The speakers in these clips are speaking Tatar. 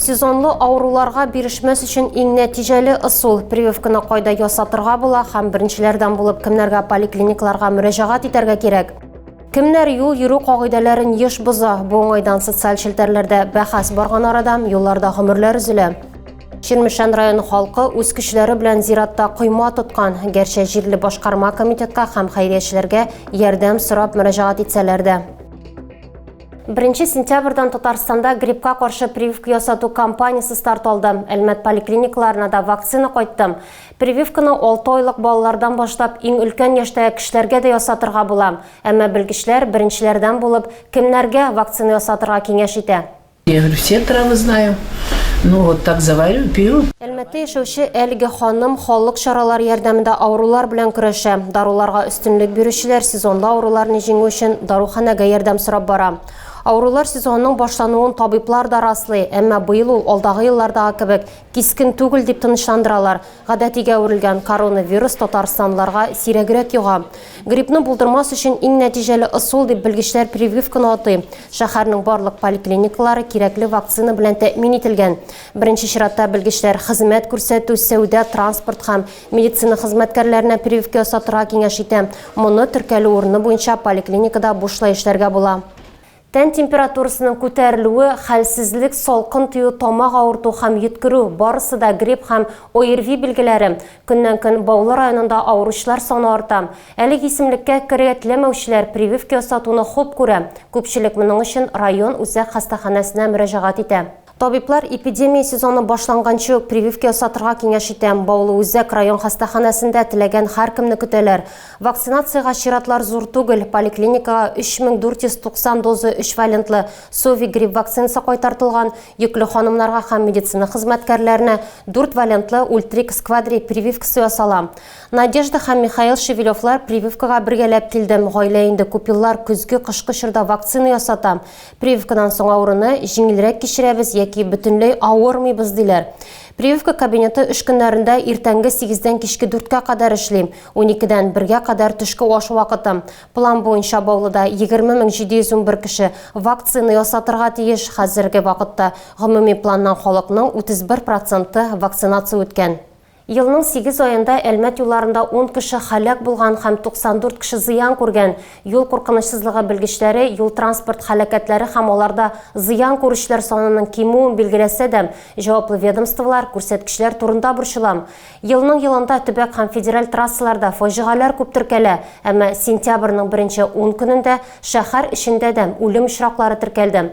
Сезонлы авыруларга бирешмәс өчен иң нәтиҗәле ысул прививканы кайда ясатырга була һәм беренчеләрдән булып кемнәргә поликлиникларга мөрәҗәгать итәргә кирәк? Кемнәр юл йөрү кагыйдәләрен еш боза? Бу уңайдан социаль челтәрләрдә бәхәс барган арада юлларда гомерләр өзелә. Чирмешән районы халкы үз көчләре белән зиратта койма тоткан. Гәрчә җирле башкарма комитетка һәм хәйриячеләргә ярдәм сорап мөрәҗәгать итсәләр дә, Беренче сентябрьдән Татарстанда гриппка каршы прививка ясату кампаниясе старт алды. Әлмәт поликлиникаларына да вакцина кайтты. Прививканы 6 айлык балалардан башлап иң өлкән яшьтәге кешеләргә дә ясатырга була. Әмма белгечләр беренчеләрдән булып, кемнәргә вакцина ясатырга киңәш итә. Я говорю, все травы знаю, ну вот так заварю, пью. Әлмәттә яшәүче әлеге ханым халык чаралары ярдәмендә авырулар белән көрәшә. Даруларга өстенлек бирүчеләр сезонлы авыруларны җиңү өчен даруханәгә ярдәм сорап бара. Авырулар сезонының башлануын табиблар да раслый, әмма быел ул алдагы еллардагы кебек кискен түгел, дип тынычландыралар. Гадәтигә әверелгән коронавирус татарстанлыларга сирәгрәк йога. Гриппны булдырмас өчен иң нәтиҗәле ысул, дип белгечләр прививканы атый. Шәһәрнең барлык поликлиникалары кирәкле вакцина белән тәэмин ителгән. Беренче чиратта белгечләр хезмәт күрсәтү, сәүдә, транспорт һәм медицина хезмәткәрләренә прививка ясатырга киңәш итә. Моны теркәлү урыны буенча поликлиникада бушлай эшләргә була. Тән температурасының күтәрелүе, хәлсезлек, салкын тию, тамак авырту һәм йөткерү, барысы да грипп һәм ОРВИ билгеләре. Көннән-көн Баулы районында авыручылар саны арта. Әлеге исемлеккә керергә теләмәүчеләр прививка ясатуны хуп күрә. Күпчелек моның өчен район үзәк хастаханәсенә мөрәҗәгать итә. Табиблар эпидемия сезоны башланганчы ук прививка ясатырга киңәш итә. Баулы үзәк район хастаханәсендә теләгән һәркемне көтәләр. Вакцинациягә чиратлар зур түгел. Поликлиникага 3490 доза өчвалентлы Сови грипп вакцинасы кайтартылган, йөкле ханымнарга һәм медицина хезмәткәрләренә дүртвалентлы Ультрик Сквадри прививкасы ясала. Надежда һәм Михаил Шевелевлар прививкага бергәләп килде. Гаилә инде күп еллар көзге-кышкы чорда вакцина ясата. Прививкадан соң авыруны җиңелрәк кичерәбез яки бөтенләй авырмыйбыз, диләр. Прививка кабинеты өч көннәрендә иртәнге сигездән кичке дүрткә кадәр эшли, уникедән бергә кадәр төшке аш вакыты. План буенча Баулыда 20711 кеше вакцина ясатырга тиеш, хәзерге вакытта гомуми планнан халыкның 31 проценты вакцинация үткән. Елның сигез аенда Әлмәт юлларында ун кеше һәлак булган һәм 94 кеше зыян күргән. Юл куркынычсызлыгы белгечләре юл-транспорт һәлакәтләре һәм аларда зыян күрүчеләр санының кимүен билгеләсә дә, җаваплы ведомстволар күрсәткечләр турында борчыла. Елның елында төбәк һәм федераль трассаларда фаҗигаләр күп теркәлә, әмма сентябрьнең беренче ун көнендә шәһәр эчендә дә үлем очраклары теркәлде.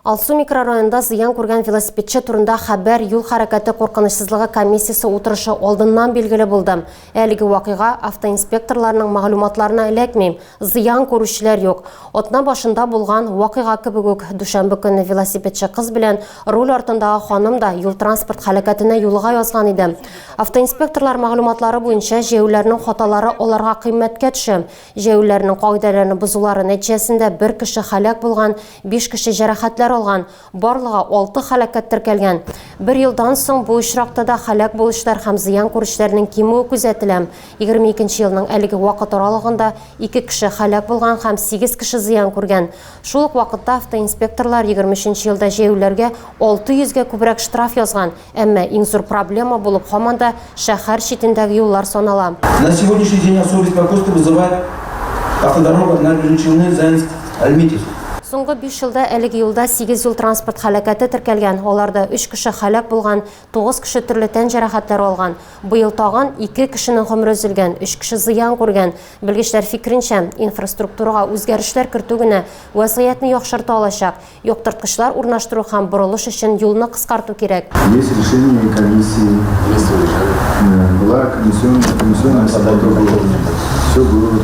Алсу микрорайонында зыян күргән велосипедчы турында хәбәр юл хәрәкәте куркынычсызлыгы комиссиясе утырышы алдыннан билгеле булды. Әлеге вакыйга автоинспекторларның мәгълүматларына эләкми, зыян күрүчеләр юк. Атна башында булган вакыйга кебек үк, дүшәмбе көнне велосипедчы кыз белән руль артындагы ханым да юл-транспорт һәлакәтенә юлыга язган иде. Автоинспекторлар мәгълүматлары буенча, җәяүләрнең хаталары аларга кыйммәткә төшә. Җәяүлеләрнең кагыйдәләрне бозулары нәтиҗәсендә бер кеше һәлак булган, биш кеше җәрәхәтләр алган, барлыгы алты һәлакәт теркәлгән. Бер елдан соң бу очракта да һәлак булучылар һәм зыян күрүчеләрнең кимүе күзәтелә. 22 нче елның әлеге вакыт аралыгында ике кеше һәлак булган һәм сигез кеше зыян күргән. Шул ук вакытта автоинспекторлар 23 нче елда җәяүлеләргә 600 гә күбрәк штраф язган, Әмма иң зур проблема булып һаман да шәһәр читендәге юллар санала. На сегодняшний день особый беспокойство вызывает автодорога набережной Заинск, Альметьевск. Соңгы биш елда әлеге юлда сигез юл-транспорт һәлакәте теркәлгән, аларда өч кеше һәлак булган, тугыз кеше төрле тән җәрәхәтләре алган. Быел тагын ике кешенең гомере өзелгән, өч кеше зыян күргән. Белгечләр фикеренчә, инфраструктурага үзгәрешләр кертү генә вәзгыятьне яхшырта алачак. Яктырткычлар урнаштыру һәм борылыш өчен юлны кыскарту кирәк. Есть решение комиссии. Есть решение. Э, была комиссионная, комиссионная согласовка. Все было.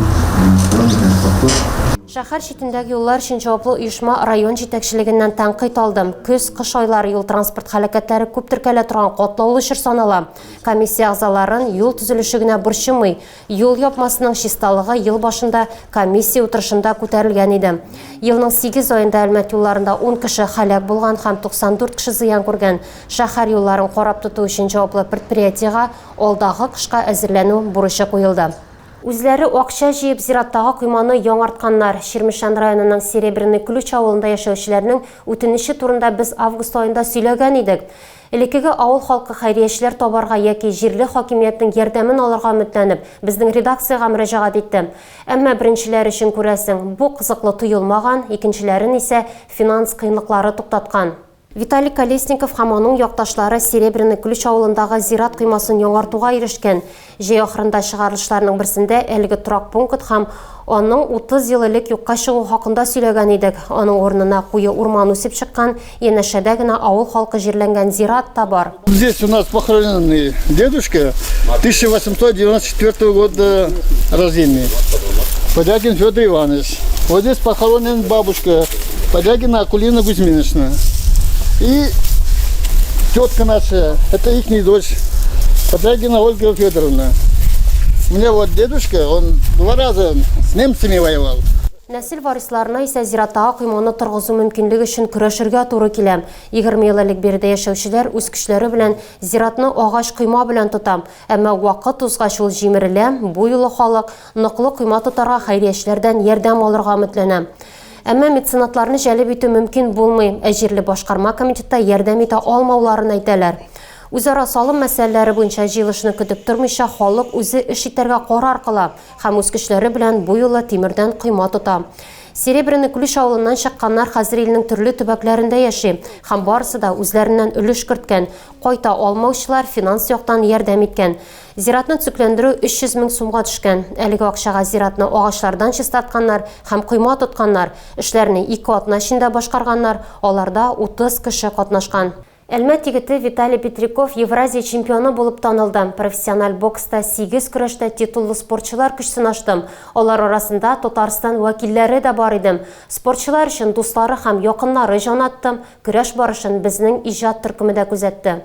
Шәһәр читендәге юллар өчен җаваплы оешма район җитәкчелегеннән тәнкыйть алдым. Көз, кыш айлары юл транспорт хәрәкәтләре күп теркәлә торган катлаулы чор санала. Комиссия әгъзаларын юл төзелеше генә борчымый. Юл япмасының чисталыгы ел башында комиссия утырышында күтәрелгән иде. Елның сигез аенда Әлмәт юлларында ун кеше һәлак булган һәм 94 кеше зыян күргән шәһәр юлларын карап тоту өчен җаваплы предприятиегә алдагы кышка әзерләнү бурычы куелды. Үзләре акча җыеп зираттагы койманы яңартканнар. Чирмешән районының Серебряный Ключ авылында яшәүчеләрнең үтенече турында без август аенда сөйләгән идек. Элеккеге авыл халкы хәйриячеләр табарга яки җирле хакимиятнең ярдәмен алырга өметләнеп, безнең редакциягә мөрәҗәгать итте. Әмма беренчеләр өчен, күрәсең, бу кызыклы тоелмаган, икенчеләрен исә финанс кыенлыклары туктаткан. Виталий Колесников һәм аның якташлары Серебряный Ключ авылындагы зират коймасын яңартуга ирешкән. Җәй ахырында чыгарылышларның берсендә әлеге торак пункт һәм аның 30 ел элек юкка чыгу хакында сөйләгән идек. Аның урынына куе урман үсеп чыккан, янәшәдә генә авыл халкы җирләнгән зират та бар. Здесь у нас похоронен и дедушка 1894 года рождения, Подякин Федор Иванович. Вот здесь похоронен бабушка Подягина Акулина Гузьминична. И тетка наша, это их дочь, Подягина Ольга Федоровна. У меня вот дедушка, он два раза с немцами воевал. Нәсел варисларына исә зираттагы койманы торгызу мөмкинлеге өчен көрәшергә туры килә. 20 ел элек биредә яшәүчеләр үз көчләре белән зиратны агач койма белән тота. Әмма вакыт узгач ул җимерелә, бу юлы халык Ныклы койма тотарга, хәйриячеләрдән ярдәм алырга өметләнә. Әмма меценатларны җәлеп итү мөмкин булмый, ә җирле башкарма комитетта ярдәм итә алмауларын әйтәләр. Үзара салым мәсьәләләре буенча җыелышны көтеп тормыйча, халык үзе эш итәргә карар кыла һәм үз көчләре белән бу юлы тимердән койма тота. Серебряный Ключ авылыннан чыкканнар хәзер илнең төрле төбәкләрендә яши һәм барысы да үзләреннән өлеш керткән, кайта алмаучылар финанс яктан ярдәм иткән. Зиратны төзекләндерү 300 мең сумга төшкән. Әлеге акчага зиратны агачлардан чистартканнар һәм койма тотканнар. Эшләрне ике атна эчендә башкарганнар, аларда 30 кеше катнашкан. Әлмәт егете Виталий Петряков Евразия чемпионы булып танылды. Профессиональ бокста, сигез көрәштә титуллы спортчылар көч сынаштым. Алар арасында Татарстан вәкилләре дә бар иде. Спортчылар өчен дуслары һәм якыннары җан атты. Көрәш барышын безнең иҗат төркеме дә күзәтте.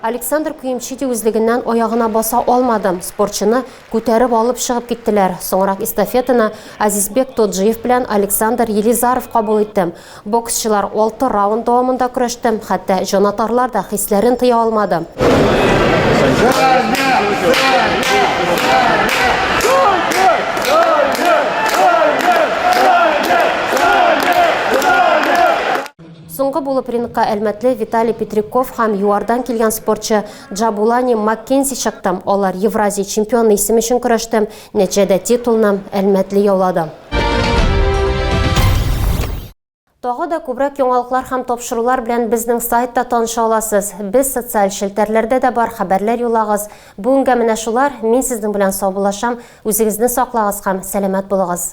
Александр Куемчити үзлегеннән аягына баса алмады, спортчыны күтәреп алып чыгып киттеләр. Соңрак эстафетаны Азизбек Тоджиев белән Александр Елизаров кабул итте. Боксчылар алты раунд дәвамында көрәште, хәтта җанатарлар да хисләрен тыя алмады. Соңгы булып рингка әлмәтле Виталий Петряков һәм ЮАРдан килгән спортчы Джабулани Маккензи чыкты. Алар Евразия чемпионы исеме өчен көрәште. Нәтиҗәдә титулны әлмәтле яулады. Тагы да күбрәк яңалыклар һәм тапшырулар белән безнең сайтта таныша аласыз. Без социаль челтәрләрдә дә бар, хәбәрләр юллагыз. Бүгенгә менә шулар, мин сезнең белән саубуллашам, үзегезне саклагыз һәм сәламәт булыгыз.